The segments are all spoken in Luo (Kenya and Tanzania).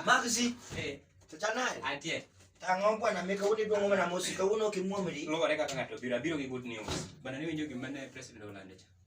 Maxi. Eh. Tachanaye. Atie. Tang'o bwana meka udi dongo mana mosi kawuono kimuomri. Luwore kaka ng'ato biro biro gi good news. Bana ni winjo gimane president olando cha.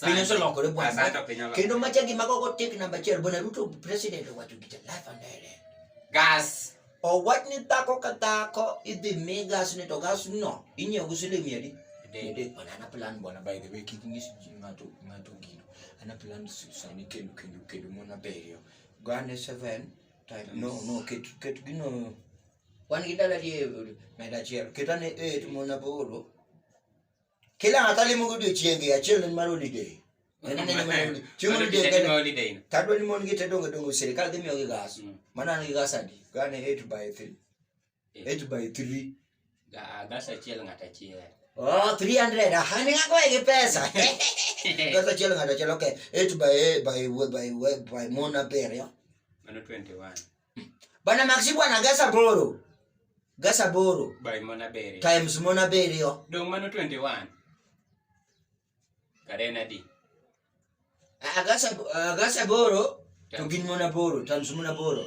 piny oselokore bwana Asante piny oloko. kendo macha gima gogo tek namba achiel bwana ruto president owacho gita life and direct Gas. owach ni dhako ka dhako idhi mi gas ni to gas no inyiewo gi siling mia adi Adek. Adek bwana ana plan bwana by the way kik nyis ji ng'ato ng'ato gino ana plan s- sani kendo kendo kendo mon abiriyo gane seven time no no ket ket gino wan gi dala die meda achiel ket ane eight mon aboro kila ng'ato alimo godiochienge achiel en mar holiday En en mar holiday. chieng holiday en holiday tadwa ni mon gi te dongo dongo sirikal dhi miyogi gas Mm. mano an gi gas adi gane 8 by 3 8 by 3 gas achiel ng'ato achiel oh 300 aha ni ng'ako gi pesa gas achiel ng'ato achiel okay 8 by by by by mon abiriyo mano 21 Bana Maxi bwana gasa boro. Gasa boro. By Mona Bere. Times Mona Bere yo. Dong mano 21. Karena di. Agasa agasa boro. Tugin Mona boro, times Mona boro.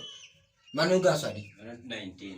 Mano gasa di. 19.